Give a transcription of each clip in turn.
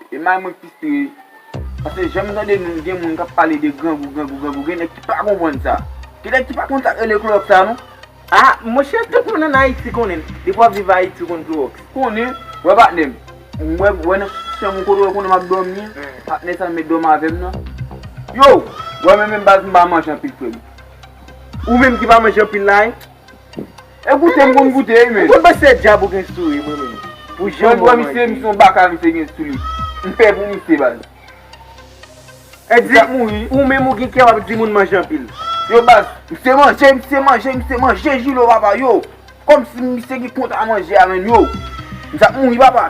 E may mwen plis ri. Pase janm tande moun gen moun kap pale de grangou grangou grangou gen nèg ki pa konprann sa. Gen nèg ki pa konn sak rele klorox la non. Ah monchè tout moun an ayiti konnen l. Depi wap viv ayiti ou konn klorox. Konnen, wè patnè m. M wè wè nan chanm ou kote wè konnen map dòmi. Patnè sa met dòm avèm nan. Yow! Wè mwen menm baz m pa manje anpil frè m. Ou menm ki pa manje anpil la hein. E goute m konn goute wi menn. Ou konn panse se djab ou gen sou wi mwen menm. Pou jan ou manje. Misye son baka misye gen sou li. M pè pou misye baz. Misye ap mouri. Ou menm ou gen kè wap di moun manje anpil. Yo baz. Misye manje misye manje misye manje julo papa yo. Komsi misye ki kont a manje a menn yo. Misye ap mouri papa.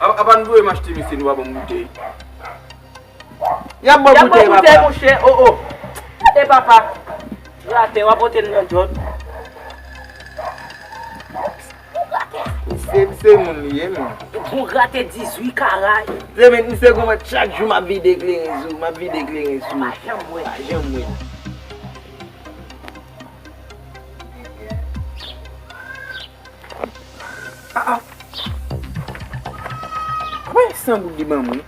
Apa nou voye m achte mesye nou pa banm boutey. Yap baw boutey papa. Yap baw boutey mouche oh oh. Gade papa. Li atè wap pote l nan dyòl. Bon gratè. Misye misye moun li ye menm. Bon gratè 18 karat. Mesye men misye goumen chak jou map vide ekleren sou map vide ekleren sou. Pa janm wè. Pa janm wè. Mwen gen 100 goud li banm wi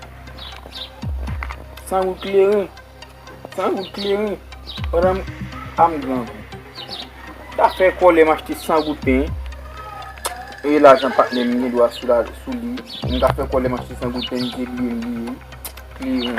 100 goud kleren 100 goud kleren pandan m a m gran gout m ta fè kòlè m achte 100 goud pen e lajan patnè m gen dwa sou lajan sou li m ta fè kòlè m achte 100 goud pen m te bliye m bliye kleren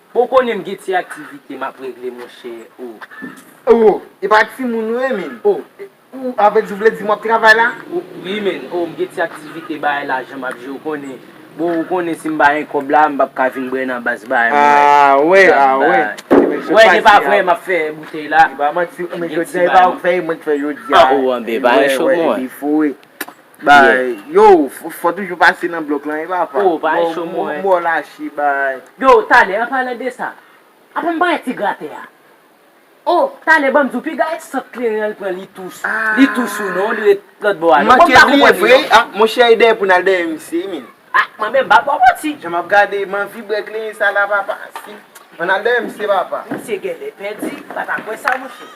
Bon konnen m gen ti aktivite m ap regle monchè oh. Oh e pa ti moun nou ye menn oh. Ou avè di ou vle di m w ap travay la? Wi menn oh m gen ti aktivite bagay la jan m ap jwe ou konnen. Bon ou konnen si m pa gen kòb la m p ap ka vin bwè nan bas bagay mwen yo. Ah wè ah wè. Ou wè se pa vre m ap fè boutèy la. Se pa manti oh men jodi a e pa vèy mwen t fè jodi a. An ou anben pa enchome ou an. Baay Yow fò toujou pase nan blòk lan wi papa Oh baay cho mwen Mò lache baay Yow talè an palan de sa Apa m pare ti gratè a Oh talè banm di w piga e sant kleren an l pran li tou sou Li tou sou non li ret lòt bò a non M manke bliye vre ah Monchè e dèyè pou n al dèyè misye wi menn Ah mwen menm m pa bò manti Jan m ap gade man vibre kleren sa la papa si An n al dèyè misye papa Misye genlè pèdi m pa ta kwè sa monchè.